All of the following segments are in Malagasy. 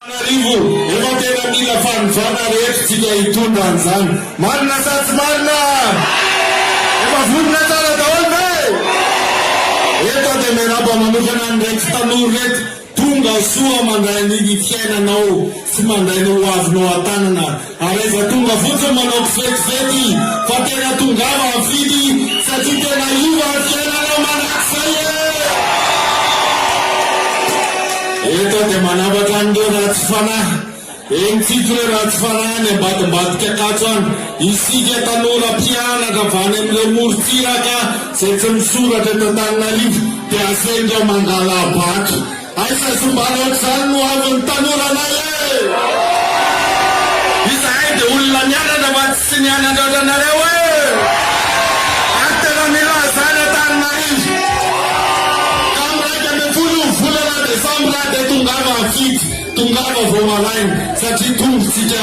Antananarivo, efa tena mila fanovana re eto tsika hitondra an'izany. Marina sa tsy marina? Efa vonona tsara daholo ve? Eto aho dia miarahaba manokana an'ireto tanora ireto, tonga soa mandray ny fiainanao sy mandray ny hoavinao an-tanana Ary aiza tonga fotsiny manao kifetifety fa tena tongava mifidy satria tena iva ny fiainana manak'izay e! Eto aho dia manambatra an'ireo ratsy fanahy, eny tsito ireo ratsy fanahy any ambadimbadika Ankatso any, isika tanora mpianatra avy any amin'ireo morontsiraka izay tsy misoratra eto Antananarivo dia asendra mangala bac Aiza sombana ohatr'izany no havin'ny tanora anay ee! Izahay dia olona nianatra fa tsy nianatra ohatranareo ee! Ary tena mila izany Antananarivo! Ka amin'ny iraika ambin'ny folo volana desambra dia tongava ampitso, tongava vao malaina satria tongotsika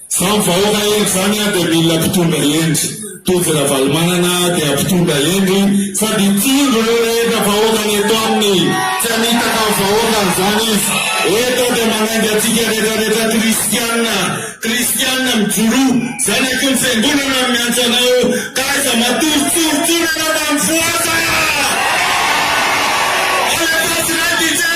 Zao ny vahoaka hendry zany dia mila mpitondra hendry, tojo ravalomanana dia mpitondra hendry sady tsindry reo rehetra vahoaka ny eto aminy tsy hanitaka ny vahoaka anzany izy eto dia manainga atsika rehetra rehetra kristianina kristianina mijoroa zanaky ny fiangonana no miantso anao ka aiza matory tsoritsorina mba mifohaza Alefaso Raikitre.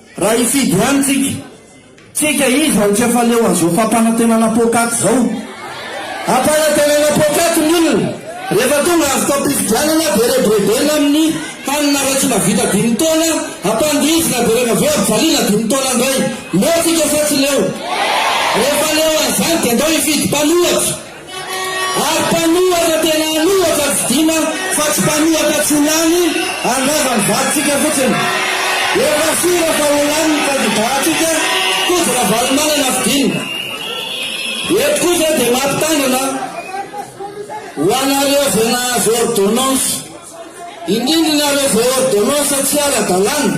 Raha hifidy ihany tsika, tsika iza no tsy afaleo an'izao fampanantenana poakaty izao? Ampanantenana poakaty ny olona, rehefa tonga avy tam-pifidianana dia rebirebena amin'ny hanina raha tsy mahavita dimy taona, ampandihizina dia rehefa avy eo ampivaliana dimy taona indray. Leo tsika sa tsy leo? Rehefa leo an'izany dia andao hifidy mpanohatra. Ary mpanohatra tena anohatra tsy dina fa tsy mpanohatra tsy ho lany handrava ny vadintsika fotsiny. Efa sira fa ho lany ny kandida ntsika Koto Ravalomanana fidinina. Eto kosa dia mampitandrina ho anareo zay nahazo ordonnance indrindra nareo zay ordonnance tsy ara dalàna.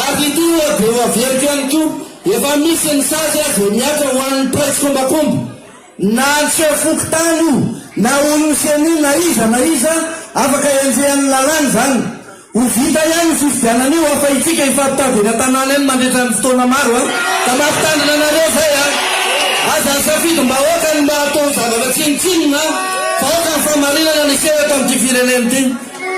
Ary ity moa dia ho averiko ihany koa, efa misy ny sazy aza e mihatra ho an'ny mpiray tsikombakomba, na antsika fokontany io, na olon'ny ceni na iza na iza, afaka henjehan'ny lalàna izany. Ho vita ihany io fifidianana io fa itsika hifampitady eny an-tanàna eny mandritra ny fotoana maro a! Ka mampitandrina anareo izay a! Aza asafidim-bahoaka ny mba hatao zavatra tsinontsinona fa aoka ny fahamarinana ny hiseho eto amin'ity firenena ity.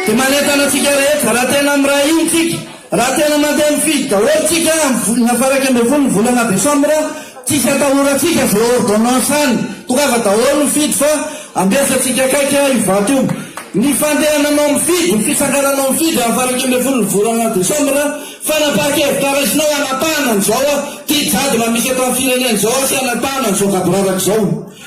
Dia manentana antsika rehetra, raha tena miray hina tsika, raha tena mandeha mifidy daholo tsika amin'ny volana faha-iraika ambin'ny folo ny volana desambra, tsisy atahorantsika izay ordonnance any, tongava daholo mifidy fa ambesa tsika akaiky io vato io. Ny fandehananao mifidy, ny fitsangananao mifidy amin'ny faha-iraika ambin'ny folo ny volana desambra, fanapahan-kevitra raisinao hanapahana an'izao tia jadona misy eto amin'ny firenena izao sy hanapahana an'izao gaboraraka izao.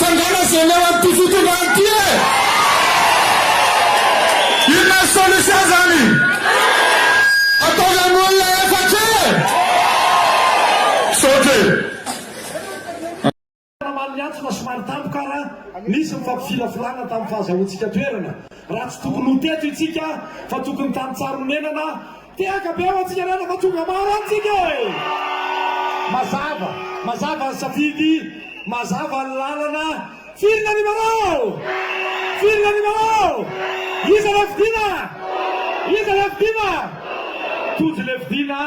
Fangana zay leo amty fitondrana ty e! Inona ny solution zany? Ataovy am olona efatra e! Misaotra e! Ramalho Ianto fa somary tampoka ara nisy ny fampifilafilana tamin'ny fahazahoantsika toerana raha tsy tokony ho teto itsika fa tokony tany Tsaronenana Teraka be ho antsika ray raha tonga maro amintsika e! Mazava, mazava ny safidy, mazava ny lalana, firy ny animarao? Firy ny animarao? Iza ilay fidiana? Iza ilay fidiana? Tojo ilay fidiana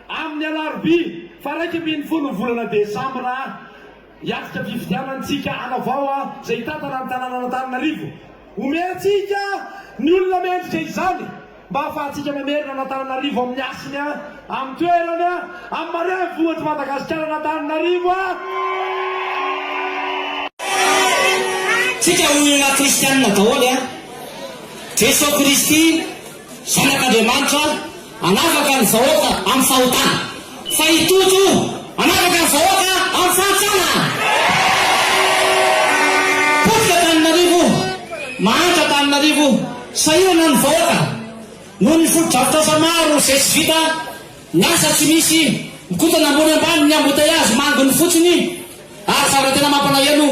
amin'ny alarobia faha iraika ambin'ny folo ny volana desambra. Hiatrika fifidianantsika hanao vaoa izay hitantana ny tanànan'Antananarivo. Omentsika ny olona mendrika izany mba hahafahantsika mamerina an'Antananarivo amin'ny hasiny, amin'ny toerany, amin'ny marean'ny vohitr'i Madagasikara an'Antananarivo. Tsika olona kristianina daholo an! Jeso Kristy. Zanak'Andriamanitra hanafaka ny vahoaka amin'ny fahotana, fa i Toto hanafaka ny vahoaka amin'ny fahantrana! Potika Antananarivo, mahantra Antananarivo, sahirana ny vahoaka noho ny fotodrafitrasa maro izay tsy vita, ny asa tsy misy, mikotana ambony ambany ny embouteillage manginy fotsiny, ary zava-tena mampalahelo,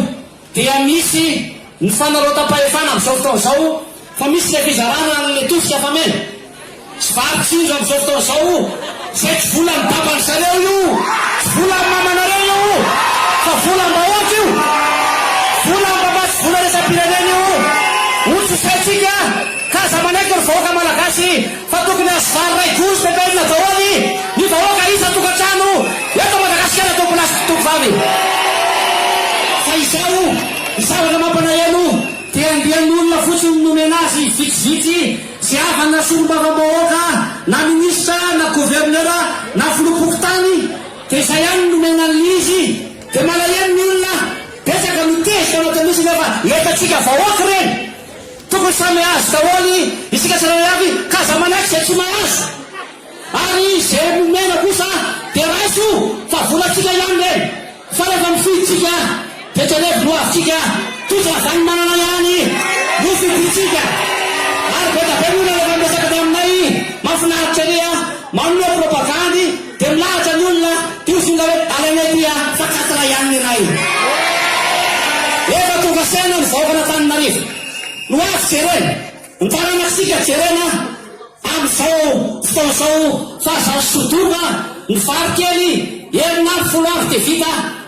Dia misy ny fanarautam-pahefana amin'izao fotoana izao fa misy ilay fizarana ny letofs afa-mena sy vary tsy onja amin'izao fotoana izao izay tsy volan'ny baban-dry zareo io, tsy volan'ny mamanareo io fa volam-bahoaka io, volam-bava sy vola iraisampirenena io, hotsisaintsika ka aza manaiky ry vahoaka malagasy. Fa tokony azo vary ray gouge de pain daoly ny vahoaka isan tokantrano eto Madagasikara tompon azy mpitoky vary. Fa izao ny zavatra mampanahelo dia andian olona fotsiny no nomena azy vitsivitsy sy havany na solombavamb ahoaka na ministra na gouverneur na filoha pokontany dia izay ihany no nomena an lizy dia malahelo ny olona betsaka mitezitra anatin'izy nefa etantsika vahoaka ireny Tokony samy hahazo daholo isika tsirairay avy ka aza manaiky izay tsy mahazo. Ary izay nomena kosa dia raiso fa volantsika ihany ireny. Fa rehefa mifidy isika dia jerevy ny hoavintsika, tojo ravanimanana ihany no fidintsika. Ary be da be ny olona rehefa miresaka ny aminay, mafinaritra ery a, manome propagandy. Dia milaza ny olona dia ho fonga hoe alainay ity a fa quatre ihany ny iray. Efa tonga saina ny vahoakan'Antananarivo no avy jerena, ny taranak'sika jerena amin'izao fotoana izao fa aza asodoana ny vary kely enina amby folo andro dia vita.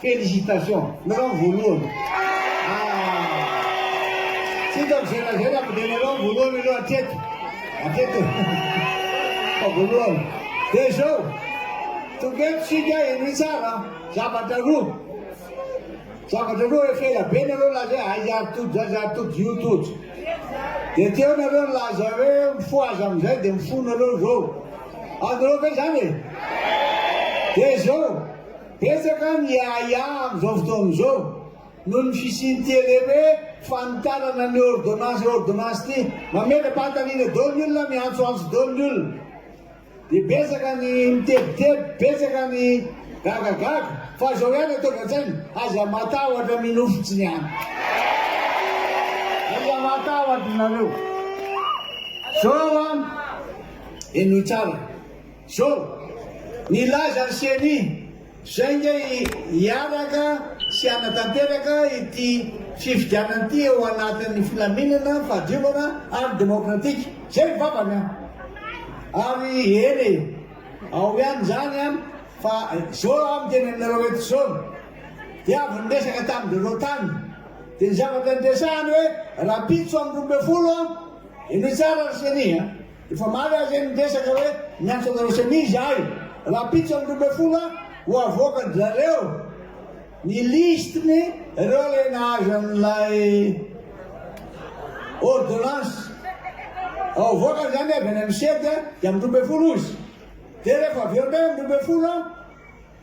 Félicitations Milao voalohany ah tsy hita mizerazera fa dia lalao voalohany aloha hatreto hatreto fa voalohany dia zao toketo sika henoy tsara zavatra roa zavatra roa efa ela be nareo laza hoe aiza ary tojo zany zary tojo io tojo dia teo nareo nilaza hoe mifoha aza amin'izay dia mifoha nareo zao azonareo ve zany e dia zao Betsaka ny ahiahy amin'izao fotoana izao noho ny fisian'ity ele hoe fanitarana ny ôrdônansy ôrdônansy ity. Mametra-panontaniana daholo ny olona, miantsoantso daholo ny olona. Dia betsaka ny mitebiteby, betsaka ny gagagaga. Fa izao ihany ataovy an-tsaina, aza matahotra minofy tsy ny any. Aza matahotra ianareo. Izao an, henoy tsara. Zao. Nilaza ny ceni, zay nge hiaraka sy hanatanteraka ity fifidianana ity ao anatin'ny filaminana, fahadiovana ary demokratika. Zay ny vavany an! Ary eny e, ao ihany izany an, fa zao aho miteny aminareo eto zao, dia avy niresaka tamin'ireo tany, dia ny zavatra niresahany hoe rahampitso amin'ny roa ambin'ny folo an, henoy tsara ry ceni an! Efa maro aho zay niresaka hoe miantso anareo semizy ahy rapitso am roa ambin'ny folo a ho avoaka ndry zareo ny liste ny reo lay nahazo an'ilay ordonnance ao avoakany zany avy any am sed dia am roa ambin'ny folo ozy de refa avy eo ndray am roa ambin'ny folo a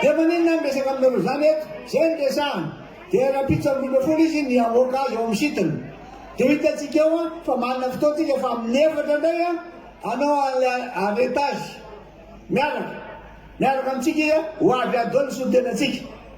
Dia maninona ny resaka aminareo izany eto? Izay no resahana. Dia rahampitso amby roa ambin'ny folo izy ny hamoaka azy ao amin'ny site-ny. Dia ho hitantsika eo an, fa manana fotoantsika fa amin'ny efatra indray an, hanao an'ilay arrêtage miaraka. Miaraka amintsika izy an, ho avy adoha ny solontenantsika.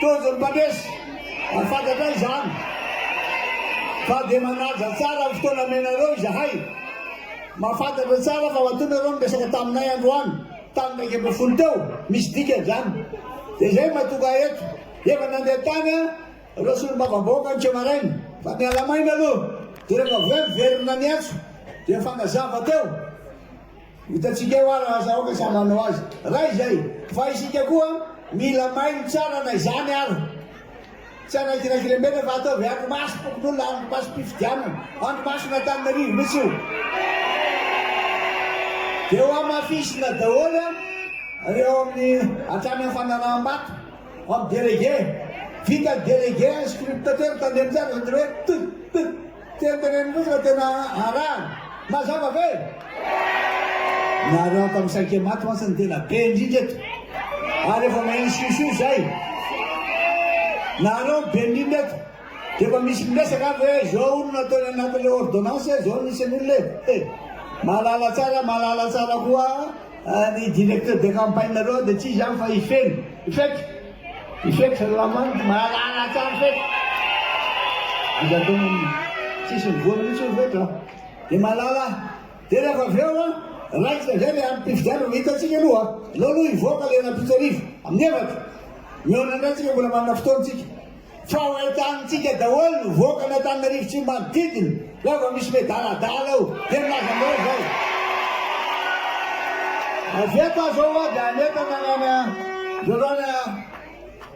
Tojo ny mpandresy, ho fantatray izany fa dia manaja tsara ny fotoana omenareo izahay. Mahafantatra tsara fa matoa nareo niresaka taminay androany tamin'ny iraika ambin'ny folo teo, misy dikany izany. Dia izay matoa ka eto, efa nandeha tany ireo solombavambahoaka ny teo maraina, fa miala maina aloha, dia rehefa avy eo miverina ny antso dia fanazava teo. Hitantsika eo ary aza aoka samy hanao azy raha izay fa isika koa mila mailo tsara na izany ary tsy hanankinankilembenana fa ataovy andro maso fokonolona andro maso pifidianana andro maso n'Antananarivo mitsy io dia ho amafisina daholo reo amin'ny hatrany amin'ny fanaraham-bato amin'ny délégué vita ny délégué scruptateur tandremo tsara zany hoe tut tut Teny tenenimbohitra tena arahana. Mazava ve? Nareo afa misaike maty mantsy no tena be indrindra eto. Ary efa maheno siosio zay. Nareo no be indrindra eto. Dia efa misy miresaka ary hoe zao no nataony anatin'ilay ordonnance e, zao no nisy an'olona e. He! Mahalala tsara, mahalala tsara koa ny directeur de campagne nareo dia tsy izany fa i Feno. Faiky! Ifex ry lamandy mahalala tsara feky aza atao tsisy mivoana mihitsy io feky a! dia mahalala dia rehefa avy eo a raikitra izay ilay androm-pifidianana no hitantsika aloha a! aleo aloha hivoaka ilay nampitsarivo amin'ny efatra mihaona indray tsika mbola manana fotoana tsika. Fa ho entanintsika daholo ny voaka an'Antananarivo sy ny manodidina, raha vao misy miadaladala eo dia milaza anareo izay. Avy eto aza ho'a dia hanentana any ana Rarana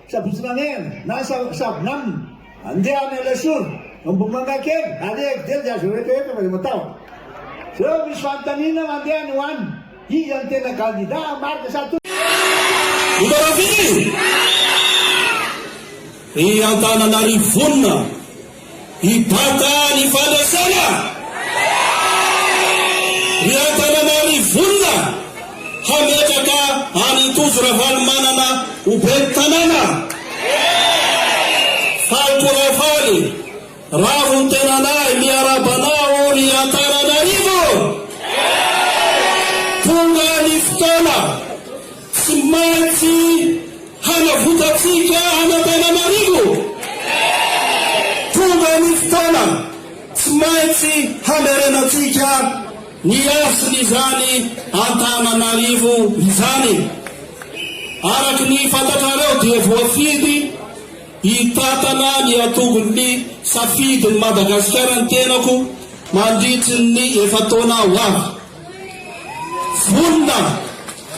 Sabotsy Namena na Sabo Namina, handeha any Alasora, Ambohimangakely, Alehakidely dia aza rehetra rehetra fa dia matahotra. Zao misy fanontaniana mandeha any ho any. Iza no tena gandidà marina sa to. Votaraville? I Antananarivo vonona hibata ny fandraisana? Ry Antananarivo vonona hametraka an'i Tojo Ravalomanana ho ben'ny tanàna? Faly toa faly. Ravo ny tenanay, miarahaba anao ao ry Antananarivo eh! Tonga ny fotoana tsy maintsy hanavotantsika an' Antananarivo eh! Tonga ny fotoana tsy maintsy hamerenantsika ny hasin' izany Antananarivo izany. Araka ny fantatrareo dia voafidy. Hitantana ny antokon'ny safidin'i Madagasikara ny tenako mandritry ny efa-taona ho avy. Vonona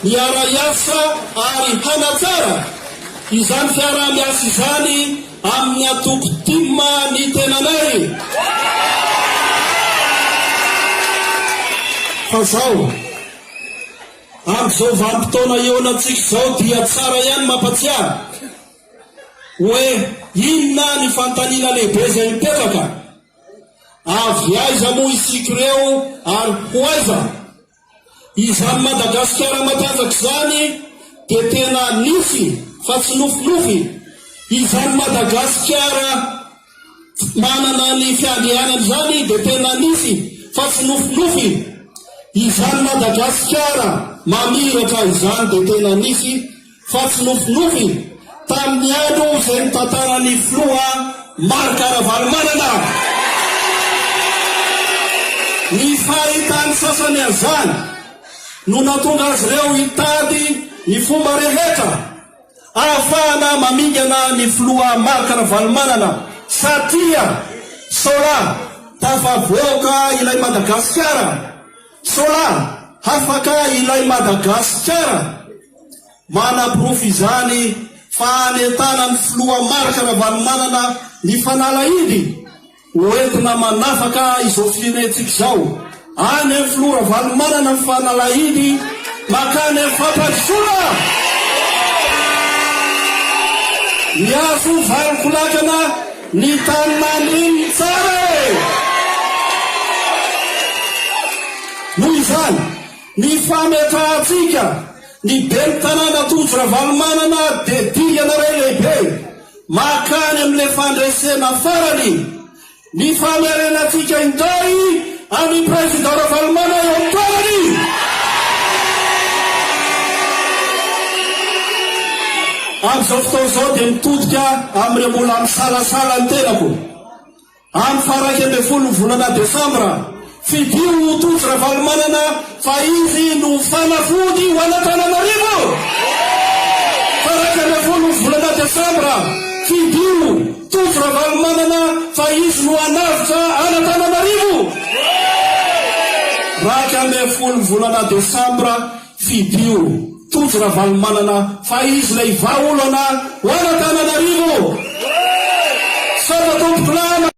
ny hiara-hiasa ary hanatsara izany fiaraha-miasa izany amin'ny antoko Tim ny tenanay, fa izao, amin'izao vanim-potoana ioanantsika izao dia tsara ihany mampatsiahy. Hoe inona ny fanontaniana lehibe izay mipetraka? Avy aiza moa isika ireo ary ho aiza? Izany Madagasikara matanjaka izany dia tena nisy fa tsy nofinofy, izany Madagasikara manana ny fiandrianany izany dia tena nisy fa tsy nofinofy, izany Madagasikara mamiratra izany dia tena nisy fa tsy nofinofy tamin'ny andro izay notantaran'ny filoha Marc Ravalomanana ny fahitany sasany an'izany no natonga azy ireo hitady ny fomba rehetra ahafahana mamingana ny filoha Marc Ravalomanana satria sola tafavoaka ilay Madagasikara sola hafaka ilay Madagasikara Manaporofo izany fa hanentana ny filoha Marc Ravalomanana mifanala hidy ho entina manafaka izao firenentsika izao. Any amin'ny filoha Ravalomanana ny fanalahidy makany amin'ny fampandrosoana. Miantso valinkolakana ny tany nandrininy tsara e! Noho izany. Ny fametrahantsika ny Ben'ny Tanàna Tojo Ravalomanana dia dingana iray lehibe mankany amin'ilay fandresena farany. Ny famerenantsika indray an'i Président Ravalomana eo amin'ny toerany. Amin'izao fotoana izao dia mitodika amin'ireo mbola misalasala ny tenako. Amin'ny faha iraika ambin'ny folo ny volana desambra, fidio ho tojo Ravalomanana fa izy no fanafody ho an'Antananarivo! Faha iraika ambin'ny folo ny volana desambra, fidio, tojo Ravalomanana fa izy no hanavotra an'Antananarivo! Iraika ambin'ny folo ny volana desambra, fidio, tojo Ravalomanana fa izy ilay vahaolana ho an'Antananarivo! Sata tompoko lama!